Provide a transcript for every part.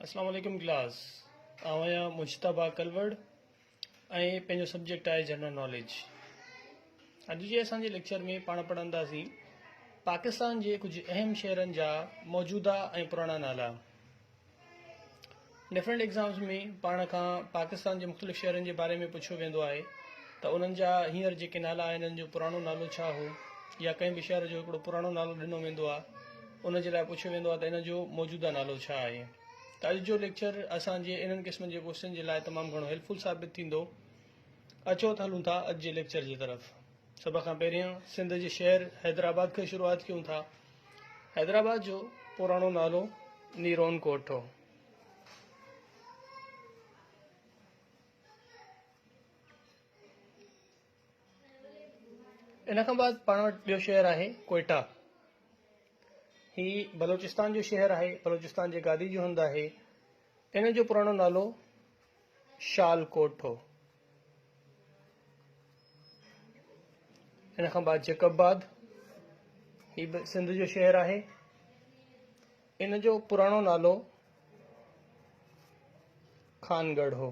اسلام عليڪم ڪلاس آئون آهيان مجتبا ڪلوڙ ۽ پنهنجو سبجيڪٽ آهي جنرل ناليج اڄ جي اسان جي ليڪچر ۾ پاڻ پڙهنداسين پاڪستان جي ڪجهه اهم شهرن جا موجوده ۽ پراڻا نالا ڊفرنٹ ایگزامس ۾ پاڻ کان پاڪستان جي مختلف شهرن جي باري ۾ پڇيو ويندو آهي ته انهن جا هينئر جيڪي نالا آهن انهن جو پراڻو نالو ڇا هو يا ڪنهن به شهر جو هڪڙو پراڻو نالو ڏنو ويندو آهي ان جي لاء پڇيو ويندو آهي ته ان جو موجوده نالو ڇا آهي؟ ته اڄ جو ليڪچر اسان جي انهن قسمن جي ڪوشچن جي لاء تمام گهڻو هيلپ فل ثابت ٿيندو. اچو ته هلون ٿا اڄ جي ليڪچر جي طرف. سڀ کان پهريان سنڌ جي شهر حيدرآباد کان شروعات ڪيون ٿا. حيدرآباد جو پراڻو نالو نيرون ڪوٽ هو. ان کان بعد پاڻ وٽ ٻيو شهر آهي ڪوئيٽا هي بلوچستان جو شهر آهي بلوچستان جي گادي جو هنڌ آهي ان جو پراڻو نالو شال ڪوٽ هو ان کان بعد جيڪب آباد هي به سنڌ جو شهر آهي ان جو پراڻو نالو خانگڙھ هو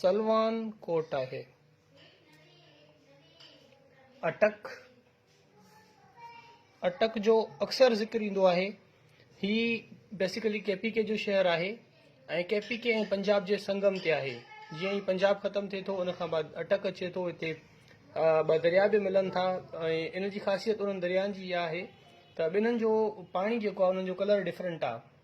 سلوان ڪوٽ آهي. اٽڪ، اٽڪ جو اڪثر ذڪر ايندو آهي. هي بيسيڪلي ڪي پي ڪي جو شهر آهي ۽ ڪي پي ڪي ۽ پنجاب جي سنگم تي آهي. جيئن ئي پنجاب ختم ٿئي ٿو ان کان بعد اٽڪ اچي ٿو. هتي ٻه درياء به ملن ٿا ۽ ان جي خاصيت انهن دريائن جي اها آهي ته ٻنهن جو پاڻي جيڪو آهي انهن جو ڪلر ڊفرنٽ آهي.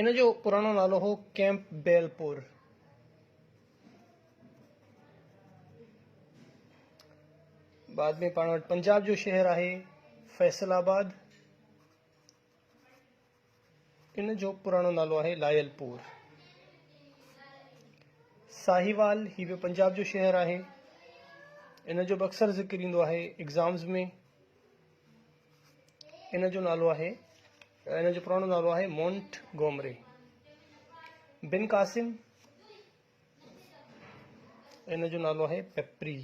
ان جو پراڻو نالو هو ڪيمپ بيل پور. بعد ۾ پاڻ وٽ پنجاب جو شهر آهي فيصل آباد ان جو پراڻو نالو آهي لائل پور ساهيوال هي به پنجاب جو شهر آهي ان جو به اڪثر ذڪر ايندو آهي ايگزامز ۾ ان جو نالو آهي ان جو پراڻو نالو آهي مونٽ گومري بن قاسم ان جو نالو آهي پپري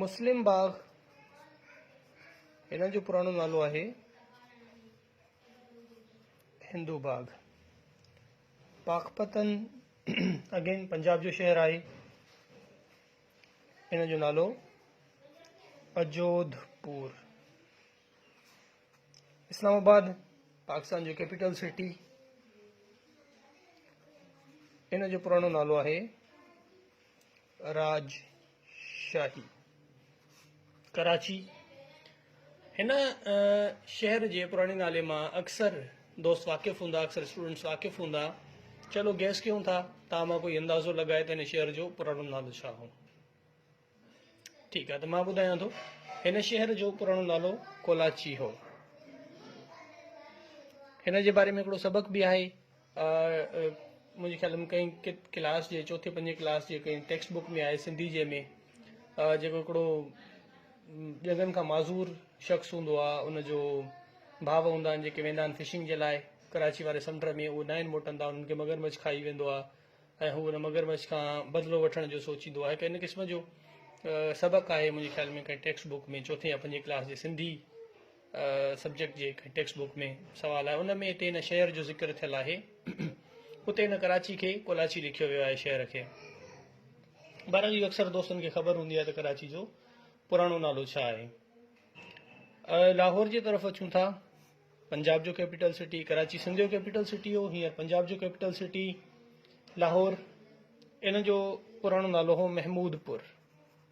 مسلم باغ ان جو پراڻو نالو آهي هندو باغ پاڪپتن اگين پنجاب جو شهر آهي ان جو نالو اجوڌ پور اسلام آباد پاڪستان جو ڪيپيٽل سٽي ان جو پراڻو نالو آهي راج شاهي ڪراچي هن شهر جي پراڻي نالي مان اڪثر دوست واقف هوندا اڪثر اسٽوڊنٽس واقف هوندا چلو گيس ڪيون ٿا تان مان ڪوئي اندازو لڳائي ته هن شهر جو پراڻو نالو ڇا هو ٺيڪ آهي ته مان ٻڌايان ٿو هن شهر جو پراڻو نالو ڪولاچي هو هن جي باري ۾ هڪڙو سبق به آهي منهنجي خيال ۾ ڪئين ڪلاس جي چوٿين پنجين ڪلاس جي ڪئين ٽيڪسٽ بڪ ۾ آهي سنڌي جي ۾ جيڪو هڪڙو ڄنگهن کان معذور شخص هوندو آهي ان جو ڀاء هوندا آهن جيڪي ويندا آهن فشنگ جي لاء ڪراچي واري سمنڊ ۾ اهو ناهن موٽندا انهن کي مگرمچ کائي ويندو آهي ۽ هو ان مگرمچ کان بدلو وٺڻ جو سوچيندو آهي ڪئين قسم جو سبق آهي منهنجي خيال ۾ ڪئين ٽيڪسٽ بڪ ۾ چوٿين يا پنجين ڪلاس جي سنڌي سبجيڪٽ جي هڪ ٽيڪسٽ بوڪ ۾ سوال آهي ان ۾ هتي هن شهر جو ذڪر ٿيل آهي اتي هن ڪراچي کي ڪولاچي لکيو ويو آهي شهر کي بهرحال اهو اڪثر دوستن کي خبر هوندي آهي ته ڪراچي جو پراڻو نالو ڇا آهي لاهور جي طرف اچون ٿا پنجاب جو ڪيپيٽل سٽي ڪراچي سنڌ جو ڪيپيٽل سٽي هو هينئر پنجاب جو ڪيپيٽل سٽي لاهور ان جو پراڻو نالو هو محمود پور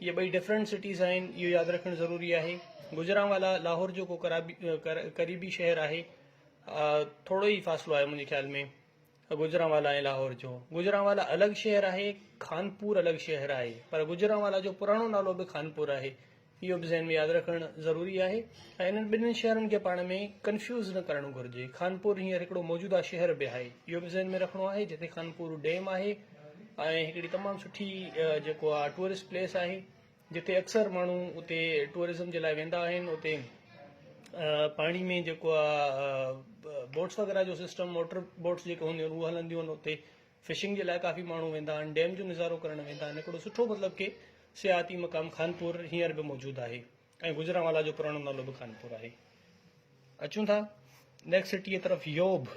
اهي ٻئي ڊفرنٽ سٽيز آهن اهو ياد رکڻ ضروري آهي گجرانوالا لاهور جو ڪو قريبي شهر آهي ٿورو ئي فاصلو آهي منهنجي خيال ۾ گجرانوالا ۽ لاهور جو گجرانوالا الڳ شهر آهي خانپور الڳ شهر آهي پر گجرانوالا جو پراڻو نالو به خانپور آهي اهو به ذهن ۾ ياد رکڻ ضروري آهي ۽ انهن ٻنهي شهرن کي پاڻ ۾ ڪنفيوز نه ڪرڻ گهرجي خانپور هينئر هڪڙو موجوده شهر به آهي اهو به ذهن ۾ رکڻو آهي جتي خانپور ڊيم آهي ۽ هڪڙي تمام سٺي جيڪو آ ٽوئرسٽ پليس آهي جتي اڪثر ماڻهو اتي ٽوئرزم جي لاء ويندا آهن اتي پاڻي ۾ جيڪو آ بوٽس وغيره جو سسٽم موٽر بوٽس جيڪو هونديون آهن اهو هلنديون آهن اتي فشنگ جي لاء ڪافي ماڻهو ويندا آهن ڊيم جو نظارو ڪرڻ ويندا آهن هڪڙو سٺو مطلب ڪي سياحتي مقام خانپور هينئر به موجود آهي ۽ گجرانوالا جو پراڻو نالو به خانپور آهي اچون ٿا نيڪسٽ سٽيء طرف يوڀ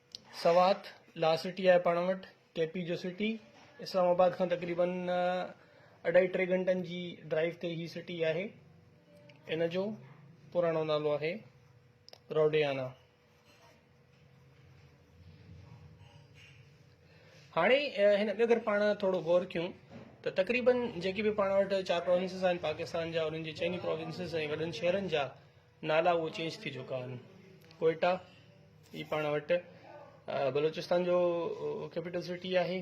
سوات، لا سٽي آهي پاڻ وٽ، ڪي پي جو سٽي، اسلام آباد کان تقريبن اڍائي ٽي گهنٽن جي ڊرائيو تي هي سٽي آهي. ان جو پراڻو نالو آهي روڊيانا. هاڻي هن ۾ اگر پاڻ ٿورو غور ڪيون ته تقريبن جيڪي به پاڻ وٽ چار پروونسز آهن پاڪستان جا انهن جي چئني پروونسز ۽ وڏن شهرن جا نالا اهو چينج ٿي چڪا آهن ڪوئيٽا هي پاڻ وٽ بلوچستان جو ڪيپيٽل سٽي آهي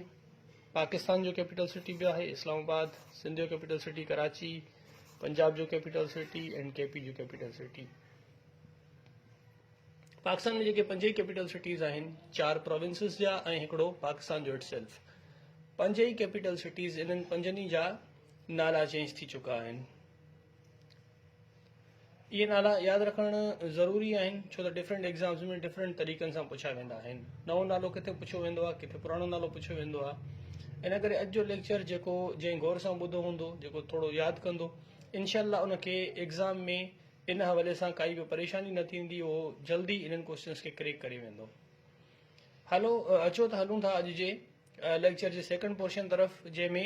پاڪستان جو ڪيپيٽل سٽي به آهي اسلام آباد سنڌ جو ڪيپيٽل سٽي ڪراچي پنجاب جو capital city and K P جو ڪيپيٽل سٽي پاڪستان ۾ جيڪي پنج ئي ڪيپيٽل سٽيز آهن چار پروونسز جا ۽ هڪڙو پاڪستان جو اٽ سيلف پنج ئي ڪيپيٽل سٽيز انهن پنجن ئي جا نالا چينج ٿي چڪا آهن اهي نالا ياد رکڻ ضروري آهن ڇو ته ڊفرنٽ ايگزامز ۾ ڊفرنٽ طريقن سان پڇيا ويندا آهن نئون نالو ڪٿي پڇيو ويندو آهي ڪٿي پراڻو نالو پڇيو ويندو آهي ان ڪري اڄ جو ليڪچر جيڪو جنهن غور سان ٻڌو هوندو جيڪو ٿورو ياد ڪندو انشاء الله ان کي ايگزام ۾ ان حوالي سان ڪائي به پريشاني نه ٿيندي اهو جلدي انهن ڪوشچنس کي ڪريڪ ڪري ويندو هلو اچو ته هلون ٿا اڄ جي ليڪچر جي سيڪنڊ پورشن طرف جنهن ۾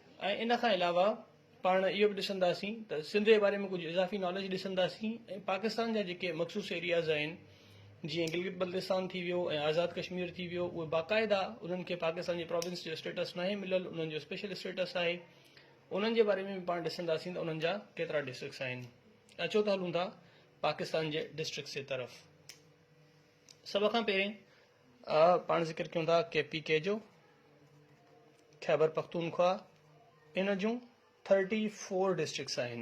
۽ ان کان علاوه پاڻ اهو به ڏسنداسين ته سنڌ جي باري ۾ ڪجهه اضافي ناليج ڏسنداسين ۽ پاڪستان جا جيڪي مخصوص ايرياز آهن جيئن گلگت بلتستان ٿي ويو ۽ آزاد ڪشمير ٿي ويو اهي باقاعده انهن کي پاڪستان جي پراونس جو اسٽيٽس ناهي مليل انهن جو اسپيشل اسٽيٽس آهي انهن جي باري ۾ به پاڻ ڏسنداسين ته انهن جا ڪيترا ڊسٽرڪس آهن اچو ته هلون ٿا پاڪستان جي ڊسٽرڪس جي طرف سڀ کان پهرين آء پاڻ ذڪر ڪيون ٿا ڪي پي ڪي جو خيبر پختونخواهه ان جون ٿرٽي فور ڊسٽرڪس آهن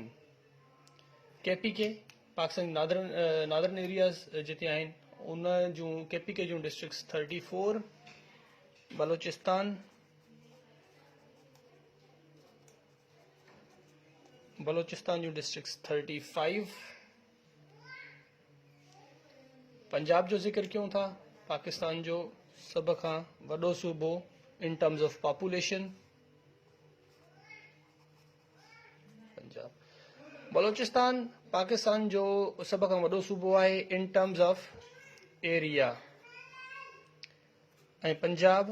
K P K Pakistan northern northern areas جتي آهن ان جون ڪي پي ڪي جون districts thirty four Balochistan Balochistan جون ڊسٽرڪس ٿرٽي فائيو پنجاب جو ذڪر ڪيون ٿا پاڪستان جو سڀ کان وڏو صوبو in terms of population Punjab Balochistan Pakistan جو سڀ کان وڏو صوبو آهي in terms of area ۽ Punjab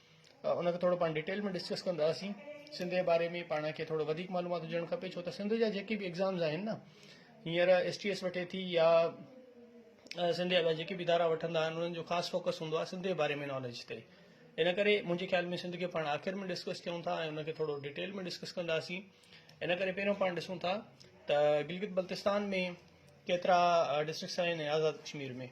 ان کي ٿورو پاڻ ڊيٽيل ۾ ڊسڪس ڪنداسين سنڌ جي باري ۾ پاڻ کي ٿورو وڌيڪ معلومات هجڻ کپي ڇو ته سنڌ جا جيڪي به ايگزامز آهن نه هينئر ايس ٽي ايس وٺي ٿي يا سنڌ جا جيڪي به ادارا وٺندا آهن انهن جو خاص فوڪس هوندو آهي سنڌ جي باري ۾ ناليج تي ان ڪري منهنجي خيال ۾ سنڌ کي پاڻ آخر ۾ ڊسڪس ڪيون ٿا ۽ ان کي ٿورو ڊيٽيل ۾ ڊسڪس ڪنداسين ان ڪري پهريون پاڻ ڏسون ٿا ته گلگت بلتستان ۾ ڪيترا ڊسٽرڪس آهن آزاد ڪشمير ۾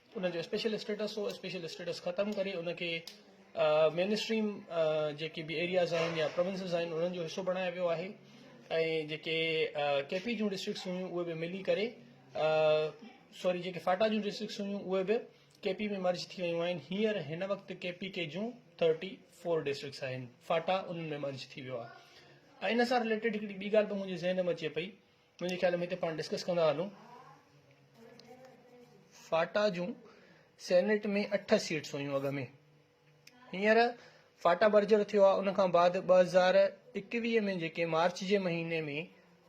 ان جو اسپيشل اسٽيٽس هو اسپيشل اسٽيٽس ختم ڪري ان کي مين اسٽريم جيڪي به ايرياز آهن يا پروونسز آهن انهن جو حصو بڻايو ويو آهي ۽ جيڪي ڪي پي جون ڊسٽرڪس هيون اهي به ملي ڪري سوري جيڪي فاٽا جون ڊسٽرڪس هيون اهي به ڪي پي ۾ مرج ٿي ويون آهن هيئر هن وقت ڪي پي ڪي جون ٿرٽي فور ڊسٽرڪس آهن فاٽا انهن ۾ مرج ٿي ويو آهي ان سان رليٽيڊ هڪڙي ٻي ڳالهه به منهنجي ذهن ۾ اچي پئي منهنجي خيال ۾ هتي پاڻ ڊسڪس ڪندا هلون فاٽا جون سينيٽ ۾ اٺ سيٽس هيون اڳ ۾ هينئر فاٽا برجر ٿيو آهي ان کان بعد ٻه هزار اڪويهه ۾ جيڪي مارچ جي مهيني ۾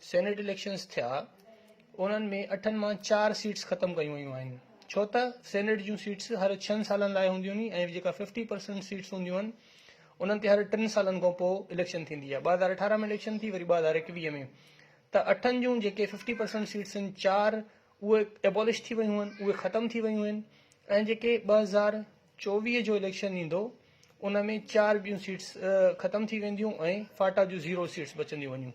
سينيٽ اليڪشنس ٿيا انهن ۾ اٺن مان چار سيٽس ختم ڪيون ويون آهن ڇو ته سينيٽ جون سيٽس هر ڇهن سالن لاء هونديون آهن ۽ جيڪا ففٽي پرسنٽ سيٽس هونديون آهن انهن تي هر ٽن سالن کان پوء اليڪشن ٿيندي آهي ٻه هزار اٺارهن ۾ اليڪشن ٿي وري ٻه هزار اڪويهه ۾ ته اٺن جون جيڪي ففٽي پرسنٽ سيٽس آهن چار اهي ايبولش ٿي ويون آهن اهي ختم ٿي ويون آهن ۽ جيڪي ٻه هزار چوويهه جو اليڪشن ايندو ان ۾ چار ٻيون سيٽس ختم ٿي وينديون ۽ فاٽا جون زيرو سيٽس بچنديون وڃون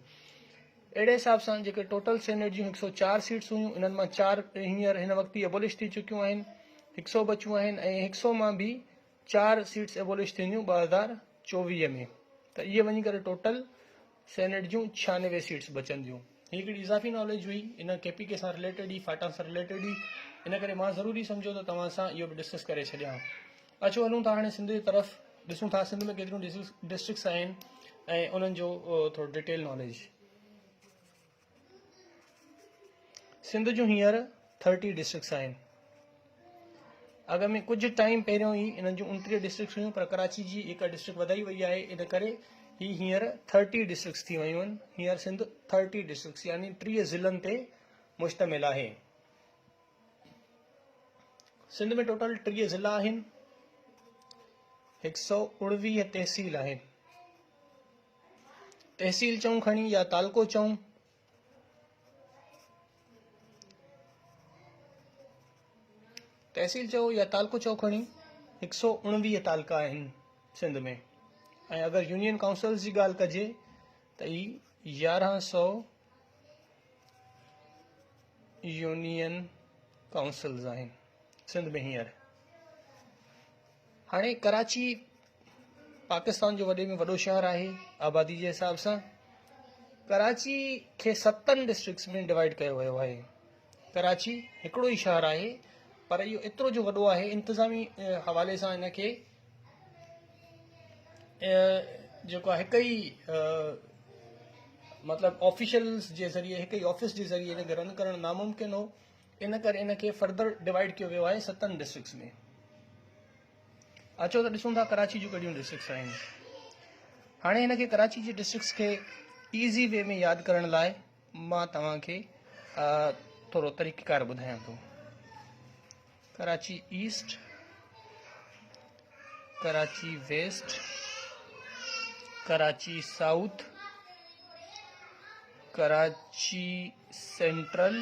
اهڙي حساب سان جيڪي ٽوٽل سينيٽ جون هڪ سو چار سيٽس هيون انهن مان چار هينئر هن وقت ئي ايبولش ٿي چڪيون آهن هڪ سو بچيون آهن ۽ هڪ سو مان به چار سيٽس ايبولش ٿينديون ٻه هزار چوويهه ۾ ته اهي وڃي ڪري ٽوٽل سينيٽ جون ڇيانوي سيٽس بچنديون. هي هڪڙي اضافي ناليج هئي، ان ڪي پي ڪي سان رليٽيڊ هئي، فاٽا سان رليٽيڊ هئي، ان ڪري مان ضروري سمجهيو ته توهان سان اهو به ڊسڪس ڪري ڇڏيان. اچو هلون ٿا هاڻي سنڌ جي طرف، ڏسون ٿا سنڌ ۾ ڪيتريون ڊسٽرڪس آهن ۽ انهن جو ٿورو ڊيٽيل ناليج. سنڌ جون هينئر ٿرٽي ڊسٽرڪس آهن اڳ ۾ ڪجهه ٽائيم پهريون ئي انهن جون انٽيهه ڊسٽرڪس هيون پر ڪراچي جي هڪ ڊسٽرڪٽ وڌائي وئي آهي ان ڪري هي هينئر ٿرٽي ڊسٽرڪس ٿي ويون آهن هينئر سنڌ ٿرٽي ڊسٽرڪس يعني ٽيهه ضلعن تي مشتمل آهي سنڌ ۾ ٽوٽل ٽيهه ضلع آهن هڪ سؤ اڻويهه تحصيل آهن تحصيل چئون کڻي يا تعلقو چئون. تحصيل چئو يا تعلقو چئو کڻي هڪ سؤ اڻويهه تعلقا آهن سنڌ ۾ ۽ اگر يونين ڪائونسلز جي ڳالهه ڪجي ته اي يارهن سؤ يونين ڪائونسلز آهن سنڌ ۾ هينئر هاڻي ڪراچي پاڪستان جو وڏي ۾ وڏو شهر آهي آبادي جي حساب سان ڪراچي کي ستن ڊسٽرڪس ۾ ڊوائڊ ڪيو ويو آهي ڪراچي هڪڙو ئي شهر آهي پر اهو ايترو جو وڏو آهي انتظامي حوالي سان هن کي جيڪو آهي هڪ ئي مطلب آفيشلس جي ذريعي هڪ ئي آفيس جي ذريعي هن کي رن ڪرڻ ناممڪن هو ان ڪري ان کي فردر ڊوائڊ ڪيو ويو آهي ستن ڊسٽرڪس ۾ اچو ته ڏسون ٿا ڪراچي جون ڪهڙيون ڊسٽرڪس آهن هاڻي هن کي ڪراچي جي ڊسٽرڪس کي ايزي وي ۾ ياد ڪرڻ لاء مان توهان کي ٿورو طريقيڪار ٻڌايان ٿو Karachi east Karachi west Karachi south Karachi central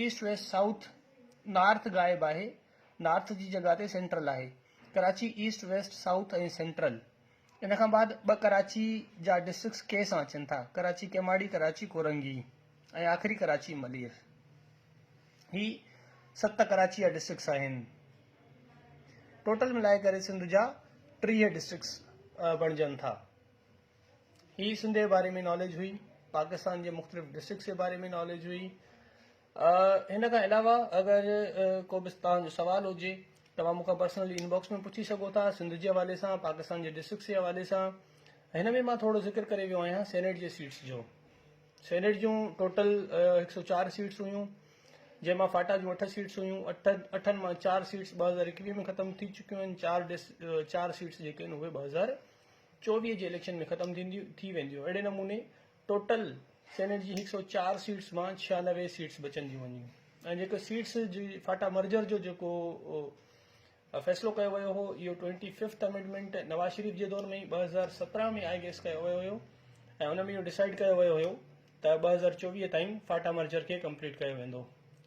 east west south north غائب آهي نارٿ جي جڳهه تي سينٽرل آهي Karachi east west south ۽ central ان کان بعد ٻه ڪراچي جا ڊسٽرڪس ڪي سان اچن ٿا ڪراچي ڪيماڙي ڪراچي ڪورنگي ۽ آخري ڪراچي ملير هي ست ڪراچي جا ڊسٽرڪس آهن ٽوٽل ملائي ڪري سنڌ جا ٽيهه ڊسٽرڪس بڻجن ٿا هي سنڌ جي باري ۾ ناليج هئي پاڪستان جي مختلف ڊسٽرڪس جي باري ۾ ناليج هئي هن کان علاوه اگر ڪو به تان جو سوال هجي توهان مون کان پرسنلي انباڪس ۾ پڇي سگهو ٿا سنڌ جي حوالي سان پاڪستان جي ڊسٽرڪس جي حوالي سان هن ۾ مان ٿورو ذڪر ڪري ويو آهيان سينيٽ جي سيٽس جو سينيٽ جون ٽوٽل هڪ سو چار سيٽس هيون جنهن مان فاٽا جون اٺ سيٽس هيون اٺ اٺن مان چار سيٽس ٻه هزار اڪويهه ۾ ختم ٿي چڪيون آهن چار ڊس چار سيٽس جيڪي آهن اهي ٻه هزار چوڏهينء جي اليڪشن ۾ ختم ٿي وينديون اهڙي نموني ٽوٽل سينيٽ جي هڪ سؤ چار سيٽس مان ڇيانوي سيٽس بچنديون وڃيون ۽ جيڪو سيٽس جي فاٽا مرجر جو جيڪو فيصلو ڪيو ويو هو اهو twenty fifth amendment Nawaz Sharif جي دور ۾ ئي ٻه هزار سترهن ۾ آئي گيس ڪيو ويو هيو ۽ ان ۾ اهو ڊسائيڊ ڪيو ويو هيو ته ٻه هزار چوويهه تائين فاٽا مرجر کي ڪمپليٽ ڪيو ويندو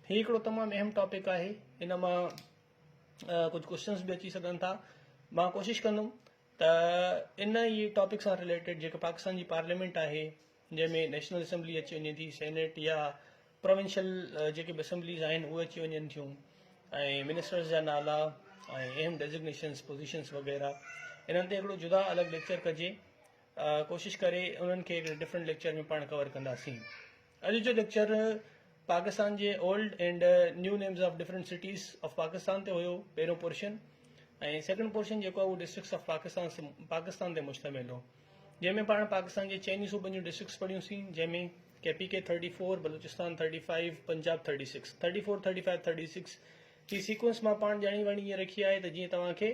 هي هڪڙو تمام اهم ٽاپڪ آهي ان مان ڪجهه ڪوشچنس به اچي سگهن ٿا مان ڪوشش ڪندم ته ان ئي ٽاپڪ سان رليٽيڊ جيڪا پاڪستان جي پارليامينٽ آهي جنهن ۾ نيشنل اسيمبلي اچي وڃي ٿي سينيٽ يا پروونشل جيڪي به اسيمبليز آهن اهي اچي وڃن ٿيون ۽ منسٽرز جا نالا ۽ اهم ڊيزگنيشنس پوزيشنس وغيره انهن تي هڪڙو جدا الڳ ليڪچر ڪجي ڪوشش ڪري انهن کي هڪڙي ڊفرنٽ ليڪچر ۾ پاڻ ڪور ڪنداسين اڄ جو ليڪچر پاڪستان جي old and new names of different cities of Pakistan تي هيو پهريون پورشن ۽ سيڪنڊ پورشن جيڪو هو ڊسٽرڪس آف پاڪستان پاڪستان تي مشتمل هو جنهن ۾ پاڻ پاڪستان جي چئني صوبن جون ڊسٽرڪس پڙهيون سين جنهن ۾ K P K thirty four Balochistan thirty five Punjab thirty six thirty four thirty five thirty six جي سيڪوئنس مان پاڻ ڄاڻي واڻي ائين رکي آهي ته جيئن توهان کي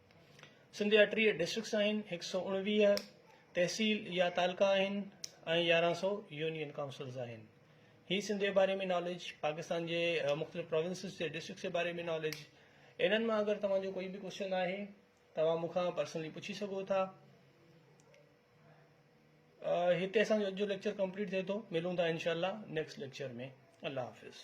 سنڌ جا ٽيهه ڊسٽرڪٽس آهن، هڪ سؤ اڻويهه تحصيل يا تعلقا آهن ۽ يارهن سؤ يونين ڪائونسلز آهن. هي سنڌ جي باري ۾ ناليج، پاڪستان جي مختلف پراونسز جي ڊسٽرڪٽس جي باري ۾ ناليج، انهن مان اگر توهان جو ڪوئي به ڪوشچن آهي توهان مون کان پرسنلي پڇي سگهو ٿا. هتي اسان جو اڄ جو ليڪچر ڪمپليٽ ٿئي ٿو، ملون ٿا انشاء الله نيڪسٽ ليڪچر ۾. الله حافظ.